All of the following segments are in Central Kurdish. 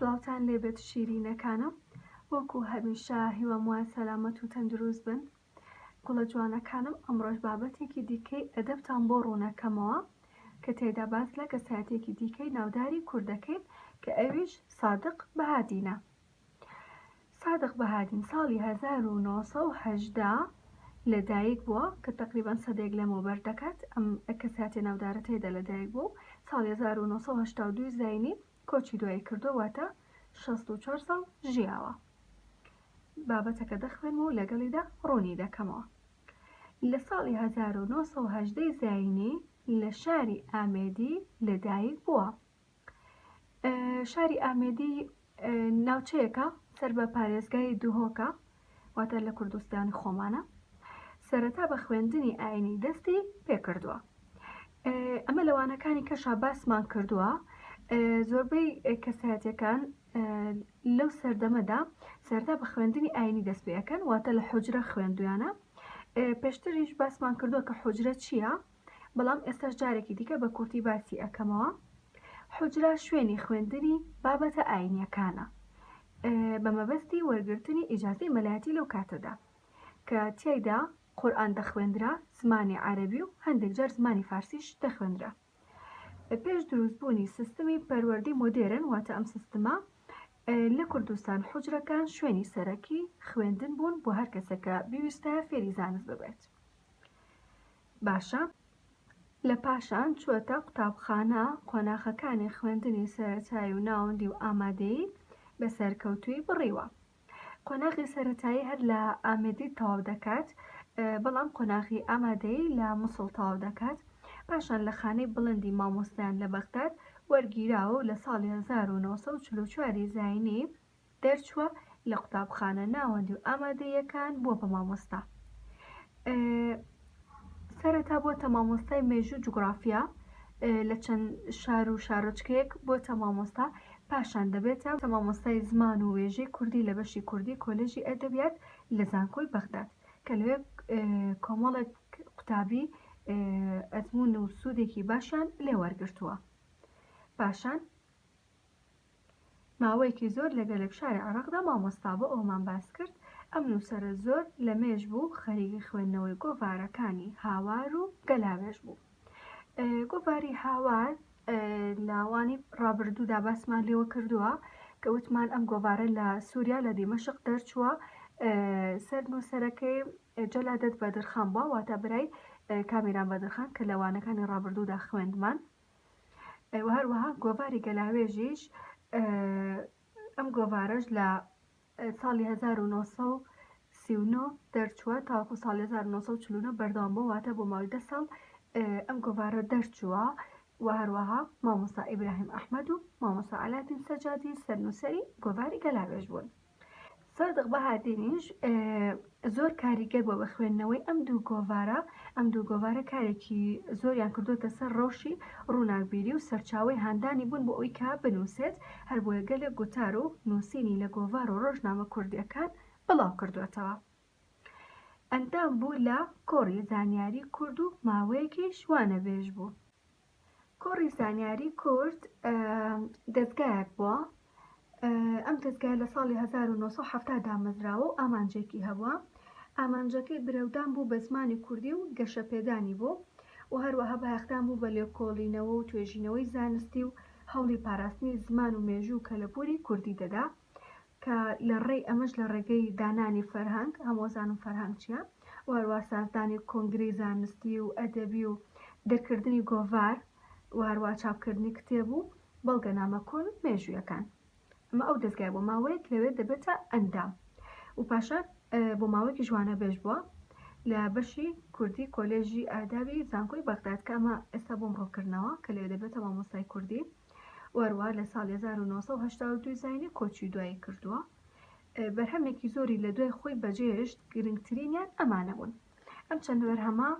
سڵاوتان لێبێت شیرینەکانم وەکو هەمیشە هیوام وایە سەلامەت و تەندروست بن گوڵە جوانەکانم ئەمڕۆژ بابەتێکی دیکەی ئەدەبتان بۆ ڕوونەکەمەوە کە تێدا باس لە کەسایەتێکی دیکەی ناوداری کوردەکەین کە ئەویش سادق بەهادینە سادق بەهادین ساڵی هەزار و نۆ سەد و هەژدە لە دایک بووە کە تەقریبەن سەدەیەک لەمەوبەر دەکات ئەم کەساتیە ناودارە تێدا لە دایک بوو ساڵی هەزار و نۆ سەد و هەشتا و دوو زینی کۆچی دوایی کردووە واتە شەست و چوار ساڵ ژیاوە بابەتەکە دەخوێنم و لەگەڵیدا ڕوونی دەکەمەوە لە ساڵی هەزار و نۆ سەد و هەژدەی زینی لە شاری ئامێدی لە دایک بووە شاری ئامێدی ناوچەیەکە سەر بە پارێزگای دوهۆکە واتە لە کوردستانی خۆمانە سەرەتا بە خوێندنی ئاینی دەستی پێکردووە ئەمە لەوانەکانی کەشا باسمان کردووە زۆربەی کەسایەتەکان لەو سەردەمەدا سەردا بە خوێندنی ئاینی دەست پێەکەن واتە لە حجرە خوێندویانە پێشتریش باسمان کردووە کە حجرە چییە؟ بەڵام ئێستاش جارێکی دیکە بە کورتی باسی ئەکەمەوە حوجرە شوێنی خوێندنی بابەتە ئاینیەکانە بە مەبەستی وەرگرتنی ئیجازەی مەلایەتی لەو کاتەدا کە تیایدا قورآن دەخوێندرا زمانی عەربی و هەندێک جار زمانی فارسیش دەخوێندرا پێش دروستبوونی سیستمی پەروەردەی مۆدێرن واتە ئەم سیستمە لە کوردستان حجرەکان شوێنی سەرەکی خوێندن بوون بۆ هەر کەسێکە بیویستە فێری زانست ببێت باشە لە پاشان چووەتە قوتابخانە قۆناخەکانی خوێندنی سەرەتایی و ناوەندی و ئامادەیی بە سەرکەوتوویی بڕیوە قۆناغی سەرەتایی هەر لە ئامێدی تەواو دەکات بەڵام قۆناغی ئامادەیی لە موسڵ تەواو دەکات پاشان لە خانەی بڵندی مامۆستایان لە بەغداد وەرگیراوە و لە ساڵی 1944 زاینی دەرچووە لە قوتابخانە ناوەندی و ئامادەییەکان بووە بە مامۆستا سەرەتا بۆتە مامۆستای مێژوو جوگرافیا لە چەند شار و شارۆچکەیەک بۆتە مامۆستا پاشان دەبێتە مامۆستای زمان و وێژەی کوردی لە بەشی کوردی کۆلێژی ئەدەبیات لە زانکۆی بەغداد کە لەوێ کۆمەڵێک قوتابی ئەزمون و سوودێکی باشیان لێوەرگرتووە پاشان ماوەیەکی زۆر لە گەلێک شاری عێراقدا مامۆستا بوو، ئەوەمان باس کرد، ئەم نووسەرە زۆر لە مێژ بوو خەریکی خوێندنەوەی گۆڤارەکانی هاوار و گەلاوێژ بوو. گۆڤاری هاوار لە وانەی ڕابردوودا باسمان لێوە کردووە کە وتمان ئەم گۆڤارە لە سووریا لە دیمەشق دەرچووە سەر نووسەرەکەی جەلادەت بەدرخان بووە واتە برای کامیران بەدرخان کە لە وانەکانی ڕابردوودا خوێندمان. و هەروەها گۆڤاری گەلاوێژیش ئەم گۆڤارەش لە ساڵی 1939 دەرچووە تاوەکو ساڵ 1940 بەردەوام بۆ واتە بۆ ماوەی دە ساڵ ئەم گۆڤارە دەرچووە و هەروەها مامۆستا ئیبراهیم ئەحمەد و مامۆستا عەلادین سەجادی سەرنووسەری گۆڤاری گەلاوێژ بوون. سادق بەهادینیش زۆر کاریگەر بووە بە خوێندنەوەی ئەم دوو گۆڤارە ئەم دوو گۆڤارە کارێکی زۆریان کردوتە سەر ڕەوشی ڕووناکبیری و سەرچاوی هاندانی بوون بۆ ئەوی کا بنووسێت هەر بۆیە گەلێ گوتار و نووسینی لە گۆڤار و ڕۆژنامە کوردیەکان بڵاو کردوێتەوە. ئەندام بوو لە کۆڕی زانیاری کورد و ماوەیەکیش وانەبێژ بوو. کۆڕی زانیاری کورد دەزگایەک بووە ئەم دەزگای لە ساڵی 1970 دامەزراوە و ئامانجێکی هەبووە ئامانجەکەی برەودان بوو بە زمانی کوردی و گەشەپێدانی بوو و هەروەها بایەخدان بوو بە لێکۆڵینەوە و توێژینەوەی زانستی و هەوڵی پاراستنی زمان و مێژوو کەلەپوری کوردی دەدا کە لە ڕێی ئەمەش لە ڕێگەی دانانی فەرهەنگ، هەموو ئەزانن فەرهەنگ چیە، و هەروا سازدانی کۆنگرەی زانستی و ئەدەبی و دەرکردنی گۆڤار و هەروا چاپکردنی کتێب و بەڵگەنامە کۆن و مێژوویەکان. ئەمە ئەو دەزگایە بۆ ماوەیەک لەوێ دەبێتە ئەندام و پاشان بۆ ماوەیەکیش وانەبێژ بووە لە بەشی کوردی کۆلێژی ئادابی زانکۆی بەغداد کە ئەمە ئێستا بۆم ڕوونکردنەوە کە لەوێ دەبێتە مامۆستای کوردی. وەروا لە ساڵی هەزار و نۆ سەد و هەشتا و دوو زاینی کۆچی دوایی کردووە بەرهەمێکی زۆری لە دوای خۆی بەجێشت گرنگترینیان ئەمانە بوون ئەم چەند بەرهەمە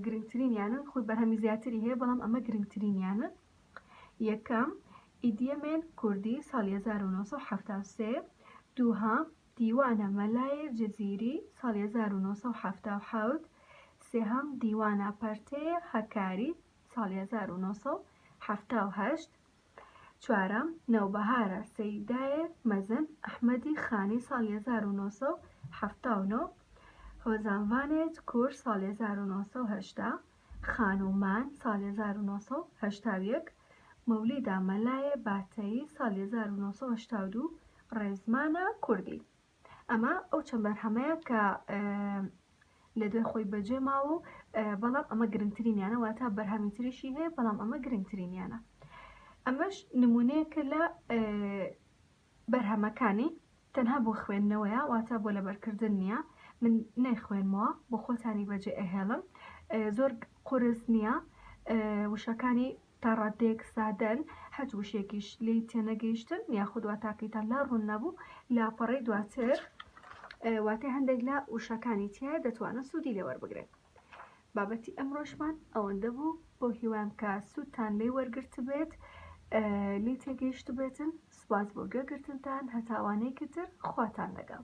گرنگترینیانن خۆی بەرهەمی زیاتری هەیە بەڵام ئەمە گرنگترینیانە یەکەم ئیدیەمێن کوردی ساڵی 1970 دووهام دیوانە مەلای جززیری ساڵی 1970 سێهام دیوانە پەرتەیە هەکاری ساڵی هەزار و نۆ سەد و حەفتا و هەشت چوارەم، نەوبەهارە سەیدایێ مەزن ئەحمەدی خانی ساڵی هەزار و نۆ سەد و حەفتا و نۆ، هۆزانڤانێت کور ساڵی هەزار و نۆ سەد و هەشتا، خانوو مان ساڵی هەزار و نۆ سەد و هەشتا و یەک، مەولیدا مەلایێ باتەیی ساڵی هەزار و نۆ سەد و هەشتا و دوو، ڕێزمانە کوردی. ئەمە ئەو چەند بەرهەمەیە کە لە دوای خۆی بەجێ ماوە و بەڵام ئەمە گرنگترینیانە واتا بەرهەمی تریشی هەیە بەڵام ئەمە گرنگترینیانە ئەمەش نمونەیەکە لە بەرهەمەکانی تەنها بۆ خوێندنەوەیە واتا بۆ لەبەرکردن نییە من نەیخوێنمەوە بۆ خۆتانی بەجێ ئەهێڵم زۆر قرس نییە وشەکانی تا ڕاددەیەک سادەن، هەچ وشەیەکیش لێی تێنەگەیشتن یاخود واتاکەیتان لا ڕوون نەبوو، لاپەڕەی دواتر واتای هەندێک لە وشەکانی تیایە دەتوانن سوودی لێ وەربگرن. بابەتی ئەمڕۆشمان ئەوەندە بوو، بەو هیوام کە سوودتان لێی وەرگرتبێت، لێی تێگەیشتبێتن، سوپاس بۆ گوێگرتنتان، هەتا وانەیەکی تر خواتان لەگەڵ.